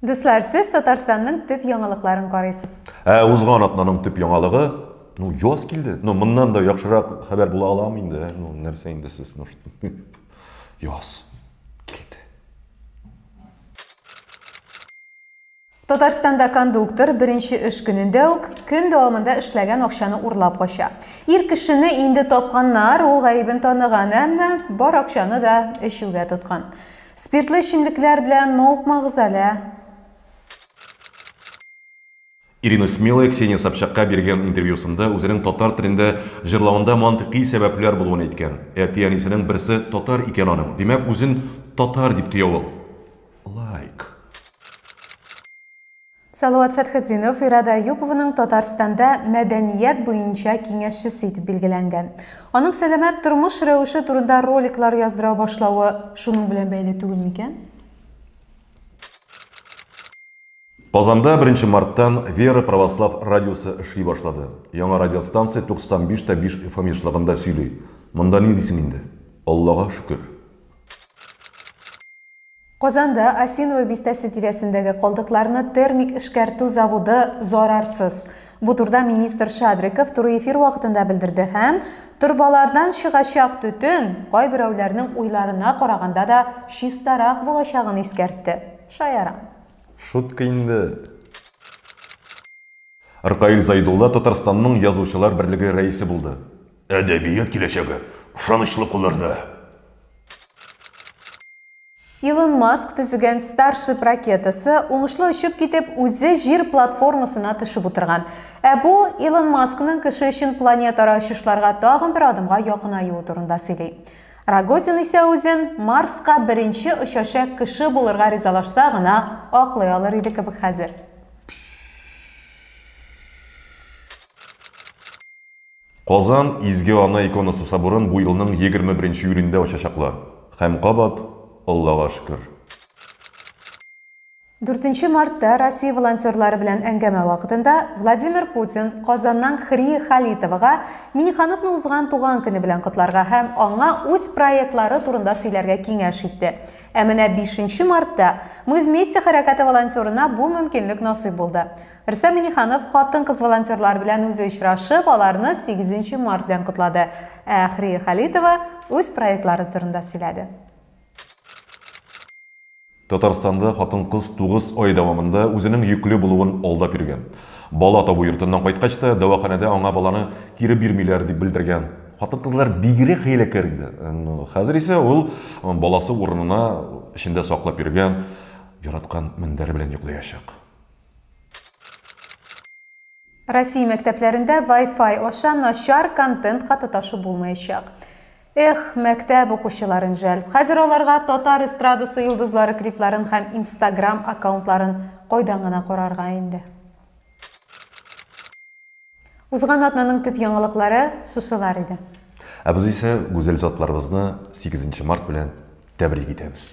Дуслар, сез Татарстанның төп яңалыкларын карыйсыз. Ә узган атнаның төп яңалыгы, ну, яз килде. Ну, моннан да яхшырак хәбәр була аламы инде? Ә? Ну, нәрсә инде сез, ну, яз. Татарстанда кондуктор беренче эш көнендә үк көн дәвамында эшләгән акчаны урлап кача. Ир кешене инде тапканнар, ул гаебен таныган, әмма бар акчаны да эчүгә тоткан. Спиртлы эчемлекләр белән мавыкмагыз әле. Ирина Смелая Ксения Собчакка биргән интервьюсында үзенең татар телендә җырлавында мантыйкый сәбәпләр булуын әйткән. Әти-әнисенең берсе татар икән аның, димәк, үзен татар дип тоя ул. лайк. Салават Фәтхетдинов Ирада Әюпованың Татарстанда мәдәният буенча киңәшчесе итеп билгеләнгән. Аның сәламәт тормыш рәвеше турында роликлар яздыра башлавы шуның белән бәйле түгел микән? Казанда беренче марттан Вера православ радиосы эшли башлады. Яңа радиостанция 95 тә 5 FM ешлыгында сөйли. Монда ни дисең инде. Аллага шөкер. Казанда Осиново бистәсе тирәсендәге калдыкларны термик эшкәртү заводы зарарсыз. Бу турыда министр Шадриков туры эфир вакытында белдерде һәм торбалардан чыгачак төтен кайберәүләрнең уйларына караганда да чистарак булачагын искәртте. Шаяра. Шутка инде. Ркаил Зайдулла Татарстанның Язучылар берлеге рәисе булды. Әдәбият киләчәге ышанычлы кулларда! Илон Маск төзегән Starship ракетасы уңышлы очып китеп, үзе җир платформасына төшеп утырган. Ә бу Илон Маскның кеше өчен планетара очышларга тагын бер адымга якынаюы турында сөйли. Рогозин исә үзен Марска беренче очача кеше булырга ризалашса гына аклый алыр иде кебек хәзер. Казан Изге Ана иконасы соборын бу елның егерме беренче июлендә ачачаклар. Һәм кабат, Аллага шөкер! Дүртенче мартта Россия волонтерлары белән әңгәмә вакытында Владимир Путин Казаннан Хрия Халитовага Миннехановны узган туган көне белән котларга һәм аңа үз проектлары турында сөйләргә киңәш итте. Ә менә бишенче мартта Мы вместе хәрәкәте волонтерына бу мөмкинлек насыйп булды. Рөстәм Миңнеханов хатын-кыз волонтерлар белән үзе очрашып, аларны 8 март белән котлады, ә Әхрия Халитова үз проектлары турында сөйләде. Татарстанда хатын-кыз тугыз ай дәвамында үзенең йөкле булуын алдап йөргән. Бала табу йортыннан кайткач та, дәваханәдә аңа баланы кире бирмиләр, дип белдергән. Хатын-кызлар бигрәк хәйләкәр инде. Хәзер исә ул баласы урынына эчендә саклап йөргән яраткан мендәре белән йоклыячак. Россия мәктәпләрендә Wi-Fi аша начар контентка тоташу булмаячак. Эх, мәктәп укучыларын жәл. Хәзер аларга татар эстрадасы йолдызлары клипларын һәм Instagram аккаунтларын кайдан гына карарга инде. Узган атнаның төп яңалыклары шушылар иде. Ә без исә гүзәл затларыбызны 8 март белән тәбрик итәбез.